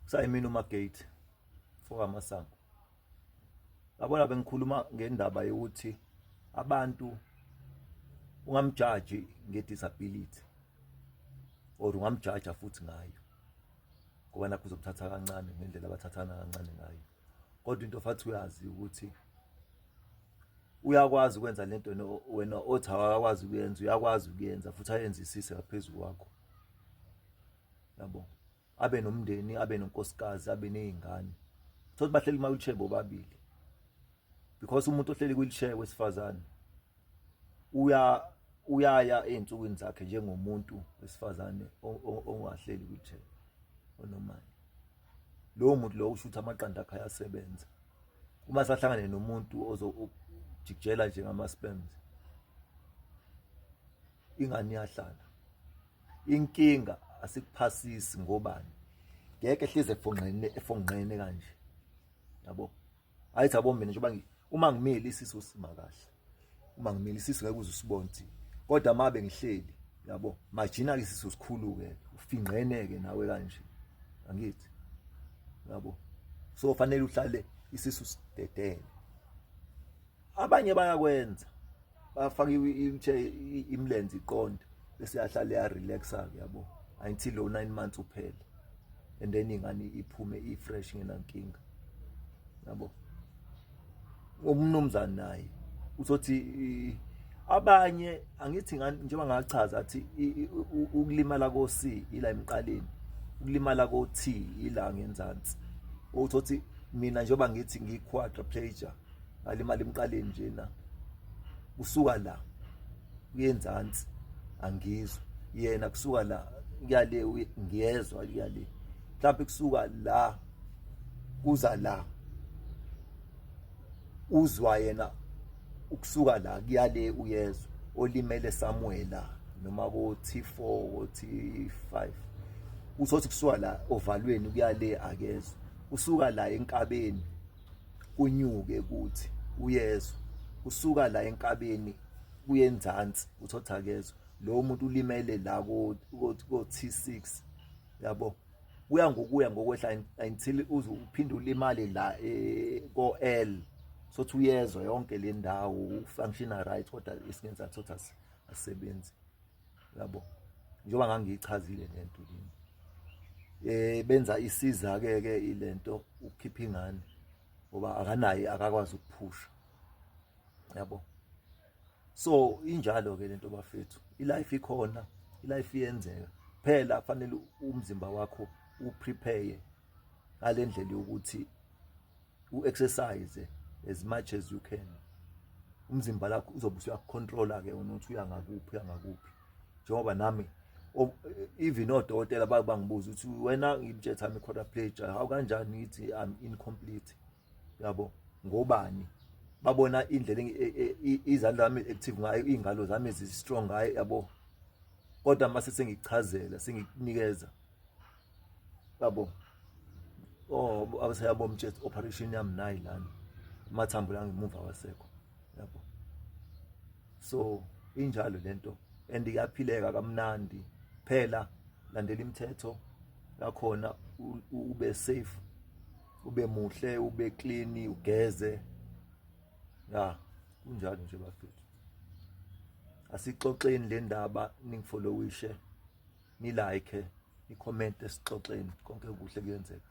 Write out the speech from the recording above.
kusayimini umagate fokamasango yabona bengikhuluma ngendaba yokuthi abantu ungamjaji ngedisability or ungamjaja futhi ngayo ngoba nakho uzomthatha kancane ngendlela abathathana kancane ngayo kodwa into fathi uyazi ukuthi uyakwazi ukwenza lento wena othi awakwazi ukuyenza uyakwazi ukuyenza futhi ayenzisise ngaphezulu kwakho yabo abe nomndeni abe nonkosikazi abe nezingane thothi bahleli ma wheelchair bobabili because umuntu ohleli wheelchair wesifazane uya uyaya ezinsukwini zakhe njengomuntu wesifazane ongahleli wheelchair onomali lowo muntu lowo usho ukuthi amaqanda akhe ayasebenza uma sahlangane nomuntu ozojikijela nje ngama-sperms ingane iyahlala inkinga asikuphasisi ngobani ngeke hleze efonqene efonqene kanje yabo ayithi abo mina njengoba uma ngimile isisu sima kahle uma ngimile isisu ngeke uze usibonthi kodwa mabe ngihleli yabo majina ke isisu sikhulu ke ufinqene ke nawe kanje angithi yabo so fanele uhlale isisu sidedele abanye bayakwenza bafaka into imlenze iqonde bese yahlala ya relaxa ke yabo until lo 9 months uphele and then ingane iphume i fresh ngenankinga yabo umnumzana naye uzothi abanye angithi ngani njengoba ngachaza athi ukulimala ko C ila emqaleni ukulimala ko T ila ngenzansi uthothi mina njengoba ngithi ngiyi quadriplegia ngalimala emqaleni nje na kusuka la kuyenzansi angizwa yena kusuka la kuyale ngiyezwa kuyale mhlawumbe kusuka la kuza la uzwa yena ukusuka la kuyale uyezwa olimele Samuela noma ko T4 ko T5 usothi kusuka la ovalweni kuyale akezwa usuka la enkabeni kunyuke kuthi uyezwa kusuka la enkabeni kuyenzansi uthi othakezwa lo muntu ulimele la ko-T6 yabo kuya ngokuya ngokwehla until uze uphinde ulimale la eh, ko-L sothi uyezwa yonke le ndawo ufunctiona right kodwa isingenza sothi asisebenzi yabo njengoba ngangiyichazile lento kimi eh benza isiza ke ke ilento ukukhipha ingane ngoba akanaye akakwazi ukuphusha yabo so injalo ke lento bafethu ilife ikhona ilife iyenzeka phela kufanele umzimba wakho uprepare ngalendlela yokuthi u exercise as much as you can umzimba lakho uzobe usuyakucontrola ke wena uthi uya ngakuphi uya ngakuphi njengoba nami even odokotela babangibuza ukuthi wena ngibjetha mi quadriplegia how kanjani ngithi i'm incomplete yabo ngobani babona indlela e, e, e, izandla zami active ngayo ingalo zami zi strong ngayo yabo kodwa mase sengichazela sengikunikeza yabo oh abaseyabo mtshets operation yami nayi lana amathambo la ngemuva wasekho yabo so injalo lento and iyaphileka kamnandi phela landela imithetho lakhona ube safe ube muhle ube clean ugeze ya kunjalo nje bafethu asixoxeni le ndaba ningifolowishe ni like ni comment esixoxeni konke kuhle kuyenzeka